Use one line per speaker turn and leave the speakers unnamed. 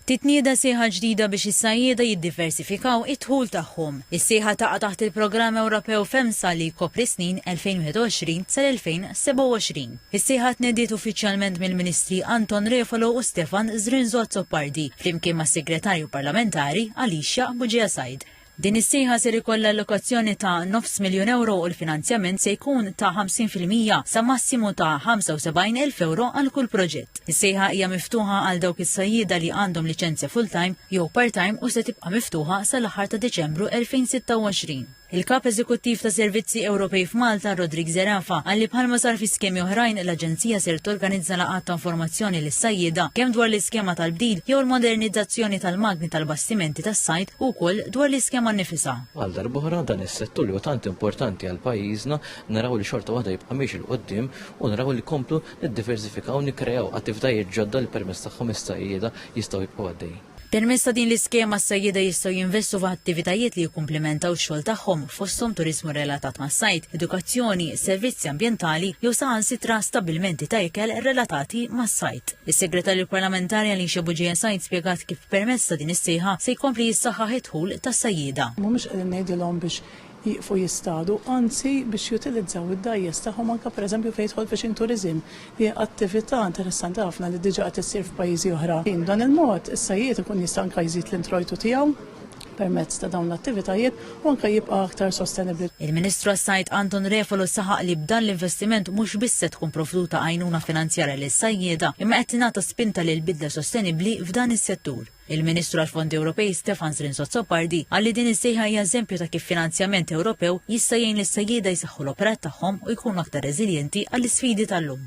Titnieda sejħa ġdida biex is-sajjieda jiddiversifikaw id-dħul tagħhom. Is-sejħa taqa' taħt il-Programm Ewropew FEMSA li jkopri s-snin 2021 sal-2027. Is-sejħa tnediet uffiċjalment mill-Ministri Anton Refalo u Stefan Zrinzo Azzopardi flimkien mas-Segretarju Parlamentari Alicia Bugia Said. Din is-sejħa ser ikollha allokazzjoni ta' nofs miljun ewro u l-finanzjament se jkun ta' 50 fil-mija sa massimu ta' 75 elf ewro għal kull proġett. Is-sejħa hija miftuħa għal dawk is-sajjieda li għandhom liċenzja full-time jew part-time u se tibqa' miftuħa sal-aħħar ta' Diċembru 2026. Il-Kap Eżekuttiv ta' Servizzi Ewropej f'Malta, Roderick Zerafa, qal li bħalma sar fi skemi oħrajn, l-Aġenzija ser torganizza laqgħat ta' informazzjoni sajjieda, kemm dwar l-iskema tal-bdil jew il-modernizzazzjoni tal-magni tal-bastimenti tas-sajd u wkoll dwar l-iskema nnifisha. Għal darb'oħra, dan
is-settur li huwa tant importanti għal pajjiżna, naraw li xorta waħda jibqa' miexi 'l quddiem u naraw li nkomplu niddiversifikaw, nikkreaw attivitajiet ġodda li permezz tagħhom is-sajjieda jistgħu jibqgħu għaddejjin. Permezz ta' din
l-iskema s-sajjieda jistgħu jinvestu f'attivitajiet li jikkumplimentaw x-xogħol tagħhom fosthom turiżmu relatat mas-sajd, edukazzjoni, servizzi ambjentali jew saħansitra stabbilmenti ta' ikel relatati mas-sajd. Is-Segretarju Parlamentari Alicia Bugeja Said spjegat kif permezz ta' din is-sejħa se jkompli jissaħħaħ id-dħul tas-sajjieda. Mhumiex qegħdin ngħidilhom
biex jieqfu jistadu, anzi biex jutilizzaw id-dgħajjes tagħhom anke pereżempju fejn jidħol fishing tourism li hija attività interessanti ħafna li diġà qed issir f'pajjiżi oħra. B'dan il-mod, is-sajjied ikun jista' anke jżid l-introjtu tiegħu permezz ta' dawn l-attivitajiet u anke jibqa' aktar sostenibbli. Il-Ministru għas-Sajd
Anton Refalo saħaq li b'dan l-investiment mhux biss se tkun provduta għajnuna finanzjarja lis-sajjieda imma qed tingħata spinta lil bidla sostenibbli f'dan is-settur. Il-Ministru għall-Fondi Ewropej Stefans Lins Azzopardi qal li din is-sejħa hija eżempju ta' kif finanzjament Ewropew jista' jgħin lis-sajjieda jsaħħu l-operat tagħhom u jkunu aktar reżiljenti għall-isfidi tal-lum.